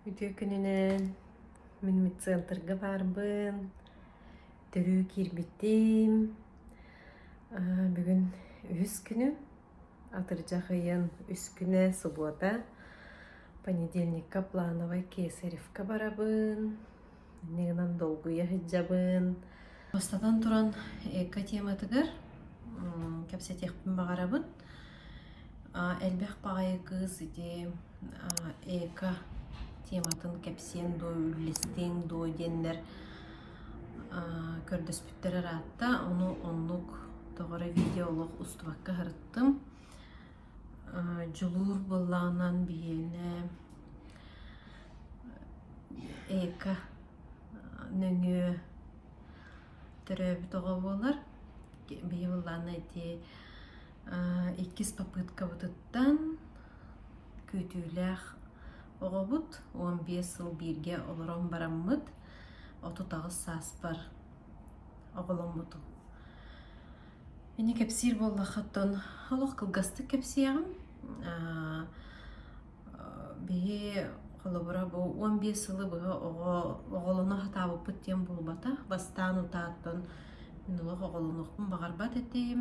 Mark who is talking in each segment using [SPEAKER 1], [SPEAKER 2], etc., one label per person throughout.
[SPEAKER 1] Үтүө күнүнэн мин медцентрга баарбын төрүү киирбитим бүгүн үһүс күнүм атырдьах ыйын үс күнэ субуота понедельникка плановай кесаревка барабын Иннэ гынан долгуйа сылдьабын. Бастатан туран, эко-тематыгар кэпсэтиэхпин баҕарабын. Элбэх баҕайы кыыс ити эко тематын кэпсиэн дуо, үллэстиэҥ дуо диэннэр көрдөспүттэр ыраатта. Ону оннук тоҕо эрэ видео олох устубакка сырыттым. Дьулуур былаанынан биһиэнэ эко нөҥүө төрөөбүт оҕо буолар биһи былаана ити иккис попыткабытыттан күүтүүлээх оҕобут уон биэс сыл бииргэ олорон бараммыт отут аҕыс сааспар оҕоломмутум Ини кэпсиир буоллахха оттон олох кылгастык кэпсиэҕим. Биһи холобура бу уон биэс сылы быһа оҕо оҕолоно сатаабыппыт диэн буолбата. Бастаан утааттан мин олох оҕолонуохпун баҕарбат этим.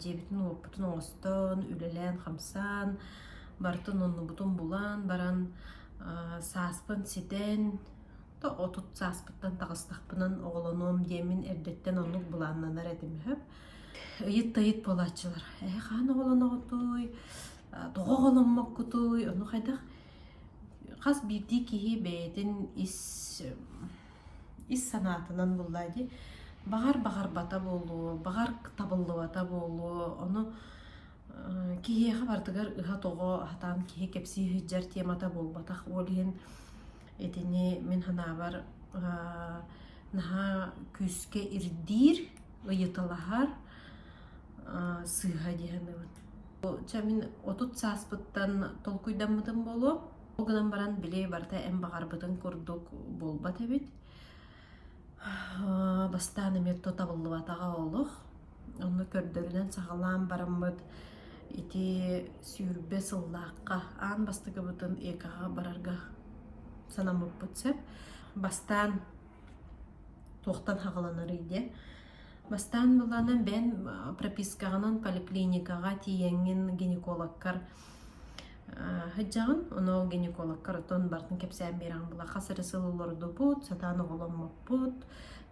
[SPEAKER 1] Дьиэбитин уоппутун оҥостон, үлэлээн-хамсаан, барытын оннубутун булан баран сааспын ситэн да отут сааспыттан таҕыстахпынан оҕолонуом диэмин эрдэттэн оннук былааннанар этим үһү ыйыт да ыйыт буолааччылар ээ хаан оҕолоноҕутуй тоҕо оҕоломмоккутуй ону хайдах хас биирдии киһи бэйэтин ис ис санаатынан буллаа дии баҕар баҕарбата буолуо баҕар табыллыбата буолуо ону киһиэхэ барытыгар ыһа тоҕо сатаан киһи кэпсии сылдьар темата буолбатах ол иһин Итини мин санаабар наһаа күүскэ ирдиир, ыйыталаһар сыыһа дии саныыбын. Чэ мин отут сааспыттан толкуйдаммытым буолуо. Ол гынан баран били барыта эн баҕарбытыҥ курдук буолбат эбит. Бастаан эмиэ тутабыллыбатаҕа олук. Ону көрдөрүнэн саҕалаан бараммыт ити сүүрбэ сыллаахха аан бастакыбытын ЭК-ҕа барарга санаммыппыт сөп. Бастаан туохтан хаҕыланарый диэ. Бастаан буланан бэйэн пропискаҕынан поликлиникаҕа тиийэҥҥин гинекологкар Сыдьаҕын оноо гинекологка ротон барытын кэпсээн биэрэҕин була хас эрэ сыл олордубут, сатаан оҕоломмуппут,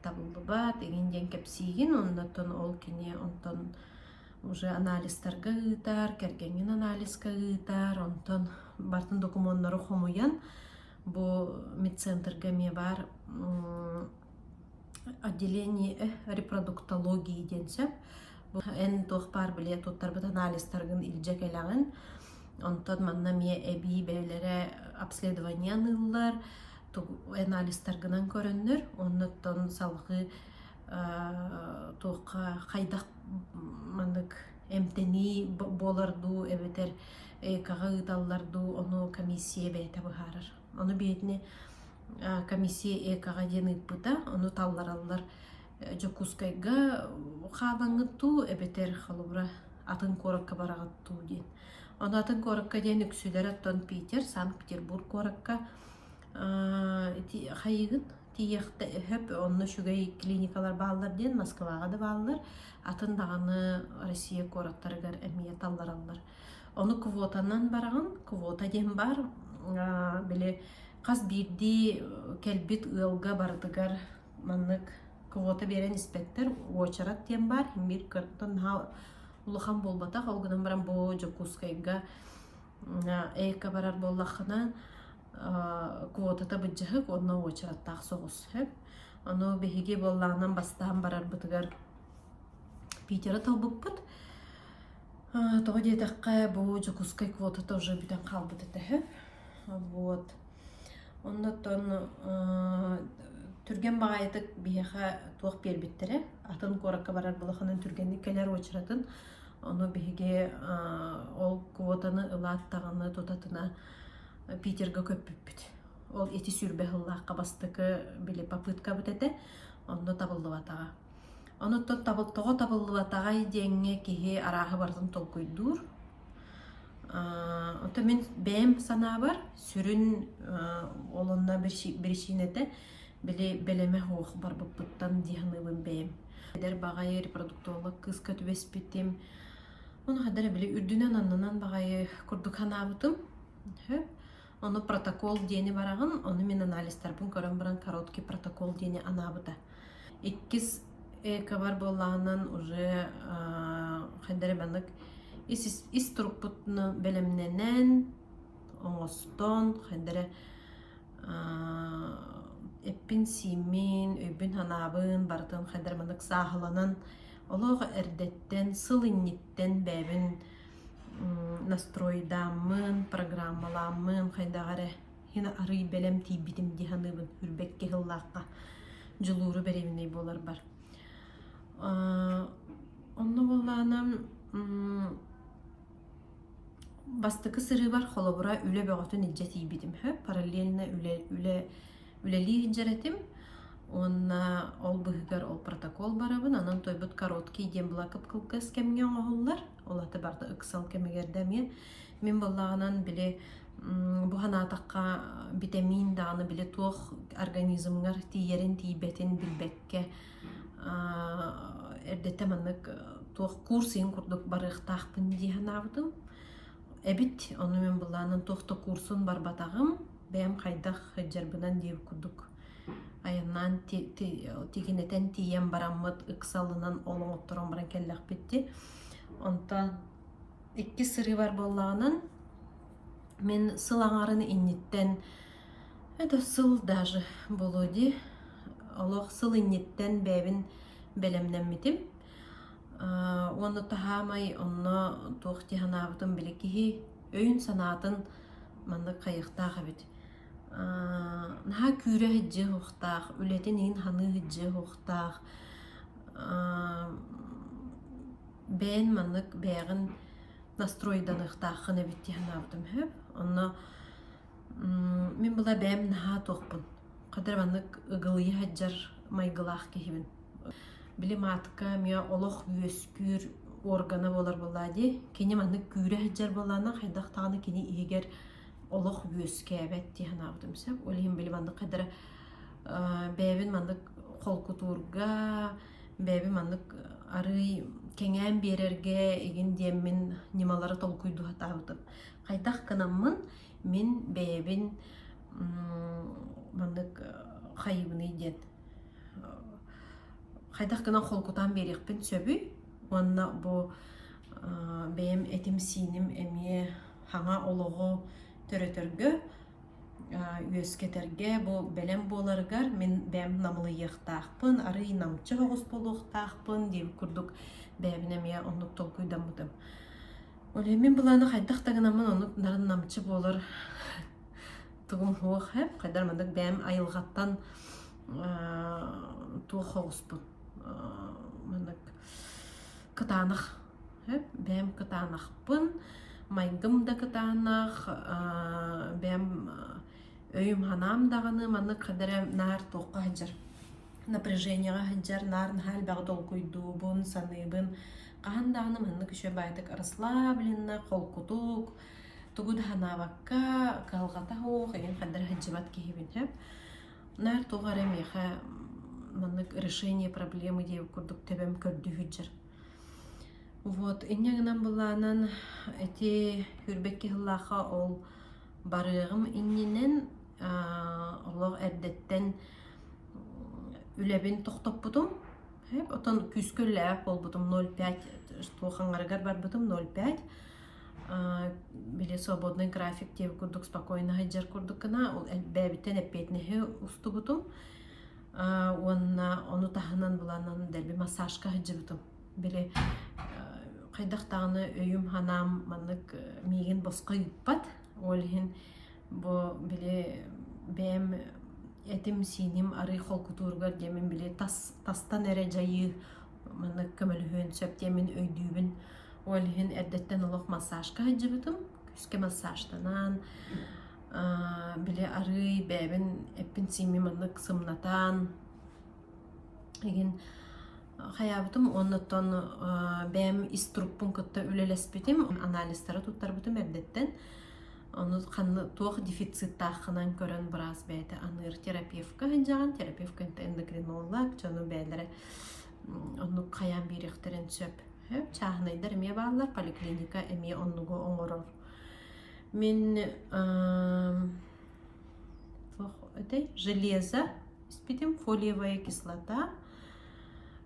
[SPEAKER 1] табыллыбат игин диэн кэпсиигин, оннуттан ол кини онтон уже анализтарга ыытар, кэргэҥҥин анализка ыытар, онтон барытын докумуоннары хомуйан бу медцентрга эмиэ баар Отделение репродуктологии диэн сөп. Бу эн туох баар били туттарбыт анализтаргын илдьэ кэлэҕин. Онтон манна эмиэ эбии бэйэлэрэ обследование аныыллар, тугу анализтаргынан көрөннөр, оннуттан салгыы туохха хайдах маннык эмтэнии буолар дуу эбэтэр ЭК-ҕа ыыталлар дуу, ону комиссия бэйэтэ быһаарар. Ону бээтине комиссия ЭК-га диэн ыыппыта, ону таллараллар Дьокуускайга хаабаҥҥыт дуу, эбэтэр холобура атын куоракка бараҕыт дуу диэн. Ону атын куоракка диэн үксүлэр оттон Питер, Санкт-Петербург куоракка хайыгыт тиийэхтэ өһөп, онно үчүгэй клиникалар бааллар диэн Москваҕа да бааллар, атын даҕаны Россия куораттарыгар эмиэ таллараллар. Ону квотанан бараҕын. Квота диэн баар. Аа, били хас биирдии кэлбит ыалга барытыгар маннык квота биэрэн испэттэр. Уочарат диэн баар. Имир кырттан наһаа улахан буолбатах. Ол гынан баран бу Дьокуускайга эко барар буоллаххына аа, квотата быдьыһык уонна уочараттаах соҕус. Сөп. Ону биһиги буоллаҕынан бастаан барарбытыгар Питеры талбыппыт. Э, тоҕо диэтэххэ, бу Дьокуускай квотата уже бүтэн хаалбыта этэ үһү. Вот. Оннуттан э, түргэн баҕайытык биһиэхэ туох биэрбиттэрэ. Атын куоракка барар былаханын түргэнник кэлэр уочаратын. Ону биһиги ол квотаны ылааттаҕына, тутатына Питерга көппүппүт. Ол ити сүүрбэ сыллаахха бастакы били попытка бут этэ. Онно табыллыбатаҕа. Онуттан табыл-тоҕо табыллыбатаҕай диэҥҥэ киһи арааһы барытын толкуйдуур. Ата мин бэйэм санаабар сүрүн ол онно биричиинэтэ били бэлэмэ суох барбыппыттан дии саныыбын бэйэм. Эдэр баҕайы репродуктолог кыыска түбэспитим. Ону хайдах эрэ били үрдүнэн аннынан баҕайы курдук санаабытым. Сөп. Ону протокол диэни бараҕын, ону мин анализтарбын көрөн баран короткий протокол диэни анаабыта. Иккис экабар буоллаҕынан уже хайдары маннык ис ис турукпутну бэлэмнэнэн оҥостон хайдары эппин-сииммин, өйбүн-санаабын барытын хайдары маннык сааһыланан олох эрдэттэн, сыл инниттэн бэйэбин настройдааммын, программалааммын, хайдах эрэ һин арыый бэлэм тиийбитим дии саныыбын үрбэккэ сыллаахха дьулууру бэриэбинэй буоларбар. Онно буоллаана бастакы сырыыбар холобура үлэ бөҕөтүн илдьэ тиийбитим. Параллельно үлэ үлэ үлэлии сылдьар этим уонна ол быһыгар ол протокол барабын анан туойбут короткий диэн блакып кылгас кэмҥэ оҥоһуллар ол аты барда ыксал кэмигэр да эмиэ мин буоллаҕынан били бу санаатахха битэмиин даҕаны били туох организмҥар тиийэрин тиийбэтин билбэккэ эрдэтэ маннык туох курс иһин курдук барыахтаахпын дии санаабытым эбит ону мин былаанын туох да курсун барбатаҕым бэйэм хайдах сылдьарбынан диир курдук айаннаан тигинэтэн тиийэн бараммыт ыксалынан олоҥотторон баран кэллэхпит онтон иккис сырыыбар буоллаҕынан мин сыл аҥарын инниттэн это сыл даже буолуо дии олох сыл инниттэн бэйэбин бэлэмнэммитим уонна таһаамай онно туох дии санаабытым били киһи өйүн санаатын Маннык хайыахтаах эбит наһаа күүрэ иһирдьэ иһиэхтээх, үлэтин иһин саныы иһирдьэ иһиэхтээх бэйэн маннык бэйэҕин настройданыахтааххын эбит дии санаабытым үһү. Онно мин була бэйэм наһаа туохпун, хайдах эрэ маннык ыгылыйа сылдьар майгылаах киһибин. Били маатка эмиэ олох үөскүүр органа буолар буоллаа дии. Кини маннык күүрэ сылдьар буоллаҕына, хайдах даҕаны кини иһигэр олох үөскээбэт дии санаабытым сөп. Ол иһин били маннык хайдара бэйэбин маннык холкутуурга, бэйэбин маннык арыый кэҥээн биэрэргэ игин диэммин ньымалары толкуйдуу сатаабытым. Хайдах гынаммын, мин бэйэбин маннык хайыыбыный диэн хайдах гынан холкутаан биэриэхпин сөбүй уонна бу бэйэм этим-сииним эмиэ хаҥа олоҕу төрөтөргө үөскэтэргэ бу бэлэм буоларыгар мин бэйэм намылыйыахтаахпын арыый намчы соҕус буолуохтаахпын диэн курдук бэйэбин эмиэ оннук толкуйдаммытым мин былааны хайдах да гынаммын оннук нарын намчы буолар тугум суох ээ хайдар маннык бэйэм айылҕаттан туох соҕуспут маннык кытаанах бэйэм кытаанахпын майгым да кытаанах бэйэм өйүм санаам даҕаны маннык кадары наар туохха сылдьар напряженияҕа сылдьар наар наһаа элбэҕи долгуйдуубун саныыбын хаһан даҕаны маннык үчүгэй баайдык расслабленно холкутук тугу да санаабакка кыһалҕата суох иһин хаддара сылдьыбат киһибин Наар тоҕо эрэ миэхэ маннык решение проблемы диэбит курдук тэбэм көрдүһүддьэр. Вот инньэ гынан былаанан ити хүрбэкки сыллаахха ол барыаҕым иннинэн олох эрдэттэн үлэбин тохтоппутум. Оттон күүскэ үлэлээбэт буолбутум ноль пять что хаҥарыгар барбытым ноль пять били свободный график диэбит курдук спокойно сылдьар курдук гына ол элбээбиттэн эппиэтинэһи устубутум уонна ону таһынан буланан дэлби массажка сылдьыбытым били хайдах даҕаны өйүм санаам маннык миигин босхо ыыппат ол иһин бу били бэйэм этим сииним арыый холкутууругар диэмин били тастан эрэ дьайыы Маннык көмөлөһүөн сөп диэн мин өйдүүбүн. Ол иһин эрдэттэн олох массажка сылдьыбытым. Күүскэ массажтанан, били арыый бэйэбин эппин-сииммин маннык сымнатан игин хайаабытым уонна оттон бэйэм ис труппун кытта үлэлэспитим, анализтары туттарбытым эрдэттэн. Ону ханна туох дефициттааххынан көрөн быраас бэйэтэ аныыр терапевка сылдьаҕын. Терапевка эндокринолог, дьону бэйэлэрэ Оннук хайаан биэриэхтэрин сөп. Чааһынайдар эмиэ бааллар, поликлиника эмиэ оннугу оҥорор. Мин туох этэй железо испитим, фолиевая кислота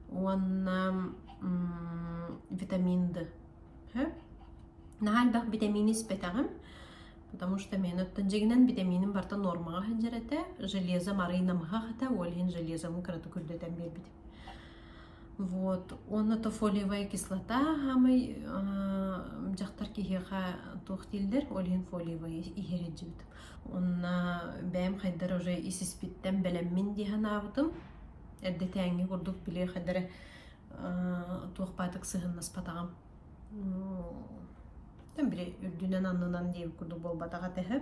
[SPEAKER 1] уонна витаминды. Наһаа элбэх витамины испэтэҕим. потому что мен оттон дьигинэн битэмииним барта нуормаҕа сылдьар этэ железом арыый намыһах этэ ол иһин железому кыратык үрдэтэн биэрбитим вот онно-то фолиевая кислота хамый дьахтар киһиэхэ туох дииллэр ол иһин фолиевая иһэриддьибитим онно бэйэм хайдар уже исиспиттэн бэлэммин дии санаабытым эрдэтээҥҥи курдук били хайдары туох паатык сыһыннаспатаҕым Били үрдүнэн-аннынан диэбит курдук буолбатах этэ үһү.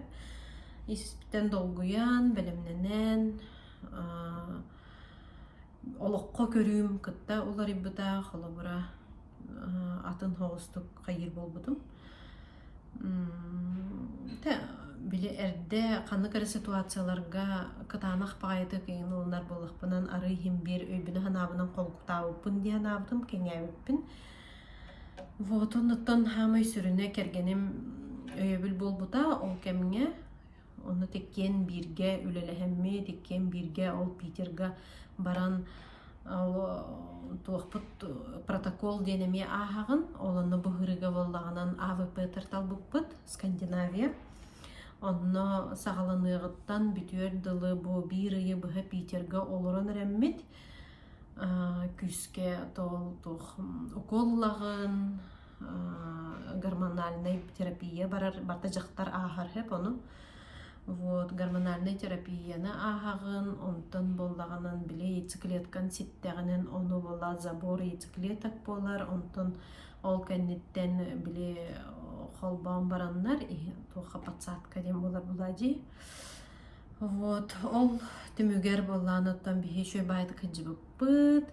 [SPEAKER 1] Испитэн долгуйан, бэлэмнэнэн, олоххо көрүүм кытта уларыйбыта. Холобура, атын оҕустук хайыыр буолбутум. Били эрдэ ханнык эрэ ситуацияларга кытаанах баҕайытык эҥин ылынар буоллахпынан арыый иһин биир өйбүнэн-санаабынан холкутаабыппын дии санаабытым, кэҥээбиппин. Вот оннуттан саамай сүрүнэ кэргэним өйөбүл буолбута ол кэмҥэ онно иккиэн бииргэ үлэлэһэммит иккиэн бииргэ ол питерга баран ол туохпут протокол диэн эмиэ ааһаҕын ол онно быһыырыга буоллаҕынан авп тар талбыппыт скандинавия онно саҕаланыаҕыттан бүтүөр дылы бу биир ыйы быһа питерга олорон эрэммит Күүскэ тоол туох укуллаҕын, гормональнай терапия барар барыта дьахтар ааһар үһү ону. Вот гормональнай терапияны ааһаҕын, онтон буоллаҕынан били яйцеклеткаҥ ситтэҕинэн ону буола забор яйцеклеток буолар, онтон ол кэнниттэн били холбоон бараннар иһин туохха подсадка диэн буолар буолаа дии. Вот, ол түмүгэр буоллаан оттон биһи үчүгэй баайдык сылдьыбыппыт.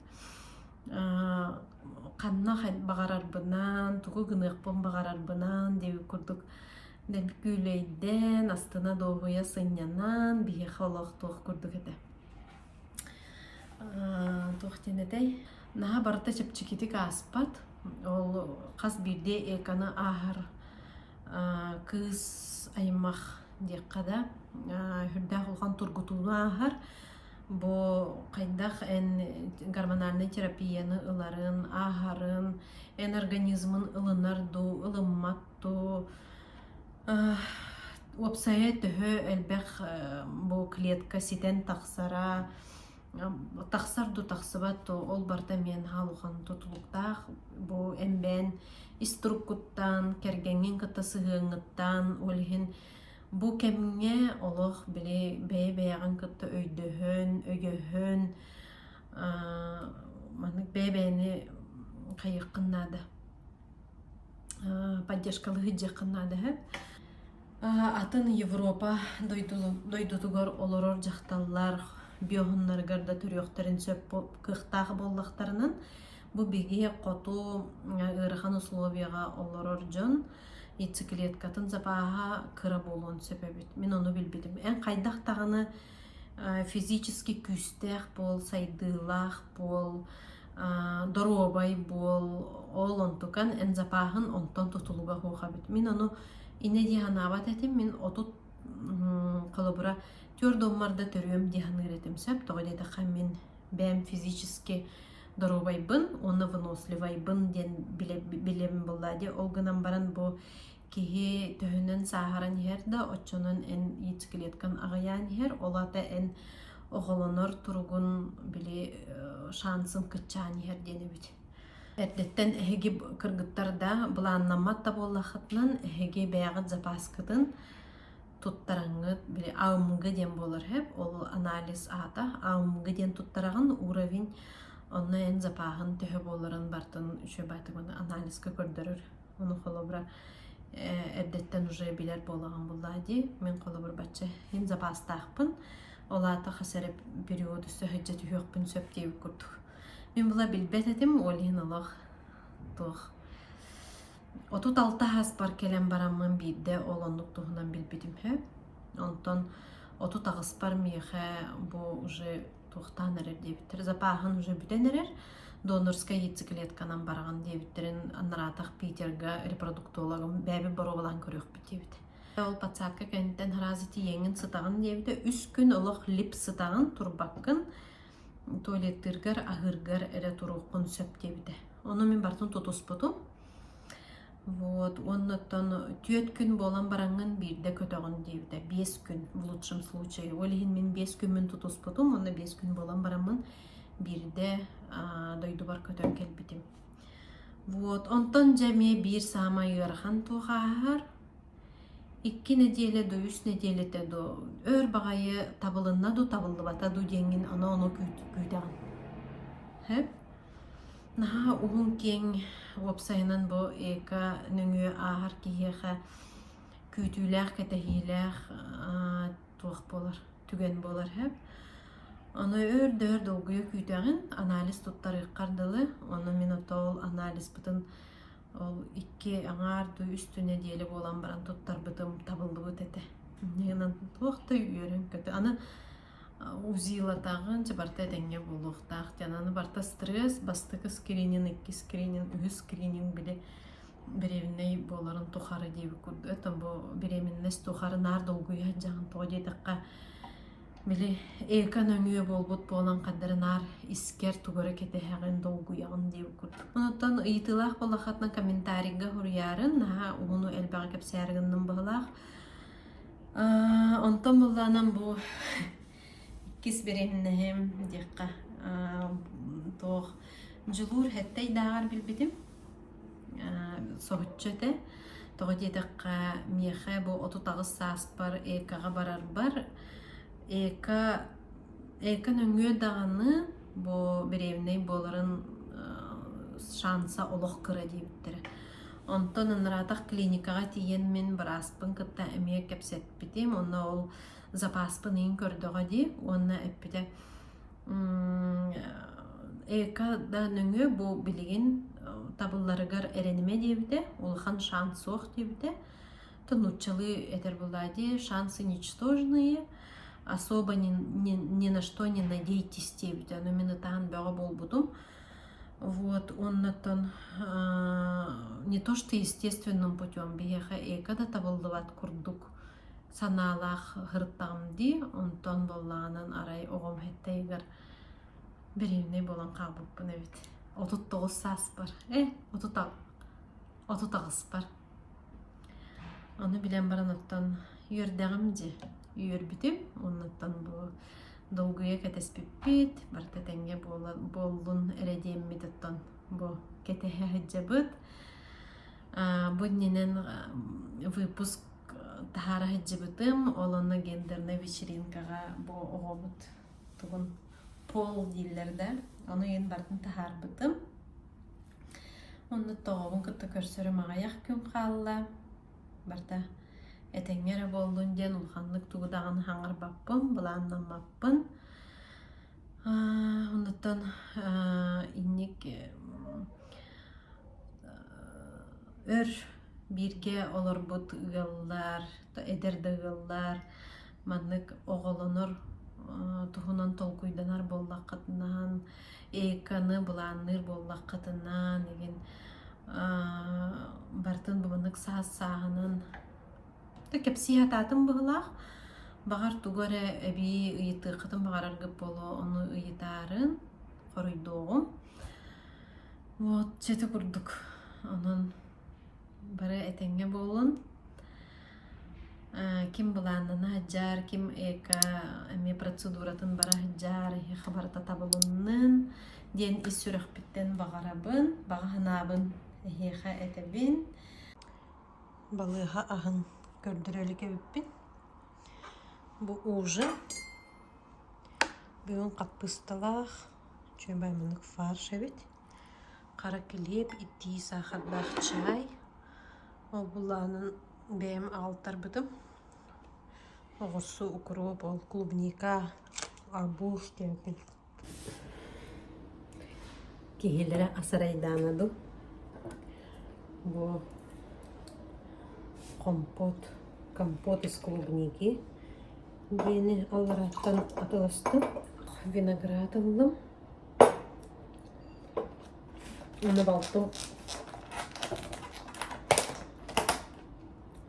[SPEAKER 1] ханна баҕарарбынан, тугу гыныахпын баҕарарбынан диэбит курдук күүлэйдээн, астына-дуоһуйа сынньанан биһиэхэ олох туох курдук этэ. туох диэн этэй? Наһаа барыта чэпчэкитик ааспат. Ол хас биирдии эканы ааһар кыыс аймах диэххэ да сүрдээх улахан тургутууну ааһар. Бу хайдах эн гормональнай терапияны ыларын, ааһарын, эн организмын ылынар дуу, ылыммат дуу, уопсайа төһө элбэх бу клетка ситэн тахсара, тахсар да тахсыбат ол барыта миэн хаалхан тутулуктаах бу эмбээн иструккуттаан кэргэҥҥин кытта сыһыаҥҥыттаан ол иһин бу кэмҥэ олох били бэйэ-бэйэҕин кытта өйдөһөн өйөһөн маннык бэйэ-бэйэни хайыаххын наада поддержкалыы сылдьыаххын наада сөп Атын Европа дойдутугар олорор дьахталлар биоһуннарыгар да төрүөхтэрин сөп кыахтаах буоллахтарынан, бу биһиги хоту ыарахан условиеҕа олорор дьон яйцеклеткатын запаһа кыра буолуон сөп эбит. Мин ону билбитим. Эн хайдах даҕаны физически күүстээх буол, сайдыылаах буол, доруобай буол, ол онтукан, эн запааһын онтон тутулуга хуох эбит. Мин ону инэ дии санаабат этим, мин отут холобура твердоммар да төрүөм дии саныыр этим сөп, тоҕо диэтэххэ мин бэйэм физически доруобайбын уонна выносливайбын диэн билэм, билэм булла дии, ол гынан баран бу Киһи төһөнөн сааһыран иһэр да, оччонон эн яйцеклетканы аҕыйаан иһэр, ол аата эн оҕолонор туругун били шансын кыччаан иһэр диэн эбит. Эрдэттэн эһиги кыргыттар да былааннаммат да буоллаххытынан, эһиги бэйэҕит запаскытын туттараҥҥыт били АМГ диэн буолар эһэп, ол анализ аата АМГ диэн туттараҕын, уровень онно эн запаһын төһө буоларын бартын үчүгэй баатык анализка көрдөрөр Ону холобура эрдэттэн уже билэр буолаҕын буллаа дии. Мин холобур бачча иһин запастаахпын. Ол аата хас эрэ период өссө сһыдьдьа түһүөхпүн сөп диэбит курдук. Мин була билбэт этим, ол иһин олох туох отут алта аспар кэлэн бараммын биирдэ ол оннук туһунан билбитим үһү. Онтон отут аҕыспар миэхэ бу уже туохтаан эрэр диэбиттэр запааһын уже бүтэн эрэр донорскай яйцеклетканан бараҕын диэбиттэрин нараатах питерга репродуктологым бэйэбит боруобалаан көрүөхпүт диэбит ол подсадка кэнниттэн хараазы тиийэҥҥин сытаҕын диэбитэ үс күн олох лип сытаҕын турбаккын туалеттыыргар аһыыргар эрэ туруоххун сөп диэбитэ ону мин бартын тутуспутум Вот уонна оттон түөрт күн буолан бараҥҥын биирдэ көтөҕүн диэбитэ биэс күн в лучшем случае ол иһин мин биэс күммүн тутуспутум уонна биэс күн буолан бараммын биирдэ аа, дойдубар көтөн кэлбитим вот онтон дьэ эмиэ биир саамай ыарахан туох ааһар икки нэдиэлэ до үс нэдиэлэтэ до өр баҕайы табылынна ду табыллыбата ду диэҥҥин аны ону күүт- күүтэҕин сөп Наһаа уһун-киэҥ уопсайынан бу эко нөҥүө ааһар киһиэхэ күүтүүлээх, кэтэһиилээх аа туох буолар, түгэн буолар сөп. Ону өр да өр долгуйа күүтэҕин, анализ туттарыаххар дылы. Ону мин отол анализпытын ол икки аҥаар дуу үстүү нэдиэлэ буолан баран туттарбытым, табыллыбыт этэ. Дьиҥинэн туох да үөрүн-көтө. Аны УЗИЛатааҕын дьабарта этэҥҥэ буолуохтаах диэн аны барта стресс бастакы скринин икки скринин үһүс скринин били бириэмнэй буоларын тухары диэбит курдук это бу бириэминнэс тухары наар долгуйа сылдьаҕын тоҕо диэтэххэ били эко нөҥүө буолбут буолан хардары наар искэр тугу эрэ кэтэһэҕин долгуйаҕын диэбит курдук онон ыйытыылаах буоллаххытына комментарийга суруйарын наһаа уһуну элбэҕи кэпсээри гынным быһылаах Аа, онтон былаанам бу иккис бириһиннэһим диэххэ аа, туох дьулуур эттэйдааҕар билбитим аа, соһуччу этэ тоҕо диэтэххэ миэхэ бу отут аҕыс сааспар эко-ҕа барарбар эко эко нөҥүө даҕаны бу бириэмнэй буоларын аа, шанса олох кыра диэбиттэрэ Онтон ынраатах клиникаҕа тиийэн мин бырааспын кытта эмиэ кэпсэппитим. Уонна ол запааспын иһин көрдөҕө дии уонна эппитэ эко да нөҥүө бу билигин табылларыгар эрэнимэ диэбитэ улахан шанс суох диэбитэ то нууччалыы этэр булаадии шансы ничтожные особо ни ни на что не надейтесь диэбитэ ну мин ытаан бөҕө буолбутум Вот оннуттан не то что естественным путем биһиэхэ эко да табыллыбат курдук санаалаах сырыттаҕым дии онтон буоллаҕынан арай оҕом хаттайыгар дэриэбинэй буолан хаалбыппын эбит отут тоҕус сааспар э отут отут аҕыспар Аны билэн баран оттон үөрдэҕим дии. Үөрбүтүм оннуттан бу долгуйа кэтэспиппит, барыта тэҥҥэ буоллун эрэ диэммит оттон бу кэтэһэ сылдьабыт. Бу иннинэн выпуск таһаара сылдьыбытым, ол онно гендернэй вечеринкаҕа бу оҕобут тугун пол дииллэр да, ону иһин барытын таһаарбытым. Оннук тоҕобун кытта көрсөрүм аҕыйах күн хаалла. Барыта этэҥҥэ эрэ буоллун диэн улаханнык тугу даҕаны хаҥарбаппын, былааннаммаппын. Оннуттан инник өр бииргэ олорбут ыаллар, эдэр да ыаллар маннык оҕолонор туһунан толкуйданар буоллаххытынаан эйканы былаанныыр буоллаххытынаан игин бартын буманнык саас сааһынан да кэпсии сатаатым быһылаах баҕар тугу эрэ эбии ыйытыаххытын баҕараргыт буолуо ону ыйытаарын хоруйдуоҕум вот чete курдук онон бары этэҥҥэ буолун ким былааннана сылдьар, ким эко эмиэ процедуратын бара сылдьар, эһиэхэ барыта табылыннын диэн ис сүрэхпиттэн баҕарабын, баҕа санаабын эһиэхэ этэбин. Балыыһа аһын көрдөрө илик эбиппин. Бу ужа. Бүгүн хаппыысталаах, үчүгэй муннук фарш эбит. Хара килиэп, итии саахардаах чаай. Ол булаанын бэйэм аҕалтарбытым. Оҕурсу, укроп, ол клубника, арбуз диэбитин киһилэрэ асарайдаана дуу. Бу компот, компот из клубники диэни аллараттан атыластым, виноград ыллым. Уна балтым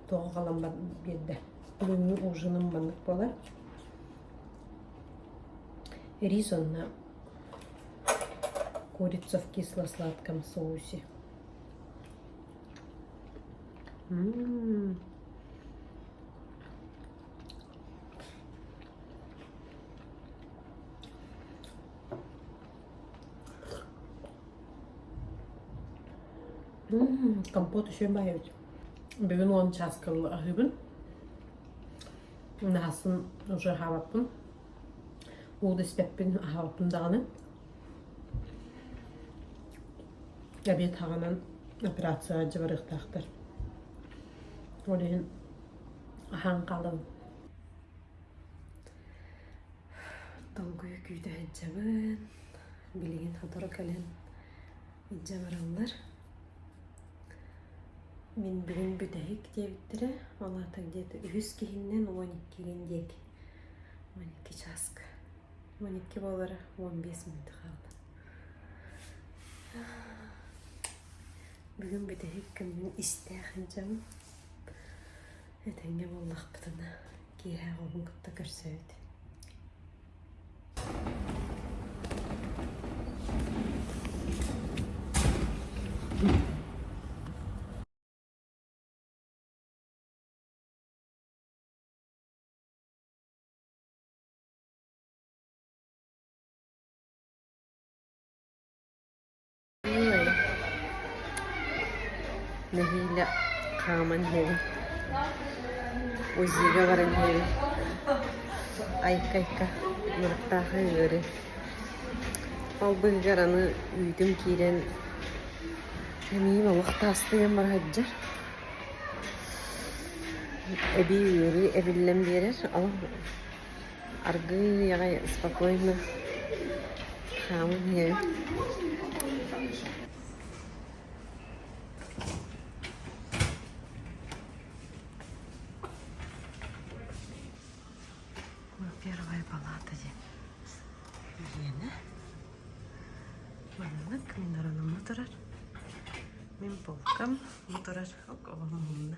[SPEAKER 1] тоҕо халаммат биэрдэ. Бүгүҥҥү ужиным маннык буолар. Рис онна курица в кисло-сладком соусе. М-м. Компот үчүгэй баайабыт. Бүгүн уон чааскыл аһыыбын. Наһасын уже аһаабаппын. Ууду испеппин аһаабаппын даҕаны. Эбиэт хаҕанан операция жабарыктаахтар. Ол иһин Аһаҥҕалым. Долгуйа күүтэ сылдьабын. Билигин сотору кэлэн илдьэ бараллар. Мин бүгүн бүтэһик диэбиттэрэ, ол аата где-то үһүс киһиннэн уон иккигин диэки. Уон икки чааска. Уон икки буолара уон биэс мүнөт хаалла. Бүгүн бүтэһик күммүн истээх сылдьабын. Этэҥҥэ буоллахпытына киэһэ оҕобун кытта көрсөбүт Ой, нэһиилэ хааман иһэбин. УЗИга баран иһэбин. Айка-айка махтаах ыҥыырын. Ол быһыгар аны үүтүм киирэн эмиийим олох таастыйан бара сылдьар. Эбии ыарыы эбиллэн биэрэр. Ол Аргыый аҕай спокойно хааман иһэрим Первая палата диэн киинэ. Маннык мунарана мутарар. Мин полкам мутарар оголум мунна.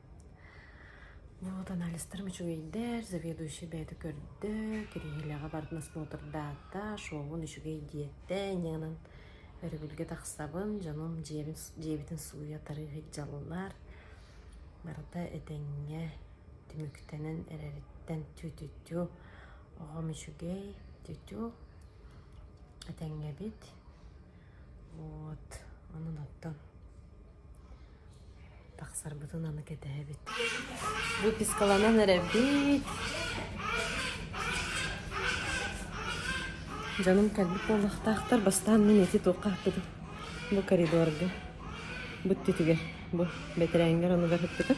[SPEAKER 1] Вот анализтарым үчүгэйдэр, заведующай бэйэтэ көрдө, кириэһилэҕэ бардын осмотрдаата, шоубун үчүгэй диэтэ, иннинэн өрөбүлгэ тахсабын, дьонум дьиэбин дьиэбитин сууйа тарыы сылдьаллар. Барыта этэҥҥэ, түмүктэнэн эрэриттэн тү-тү-тү. Оҕом үчүгэй, тү-тү. Этэҥҥэбит. Вот анын оттон тахсарбытын аны кэтэһэбит. Выпискаланан эрэбит. Дьонум кэлбит буоллахтаахтар. Бастаан мин эти туохха хаппытым. Бу коридорга. Бу түтүгэр. Бу бэтэрээнгэр онугар хаппытым.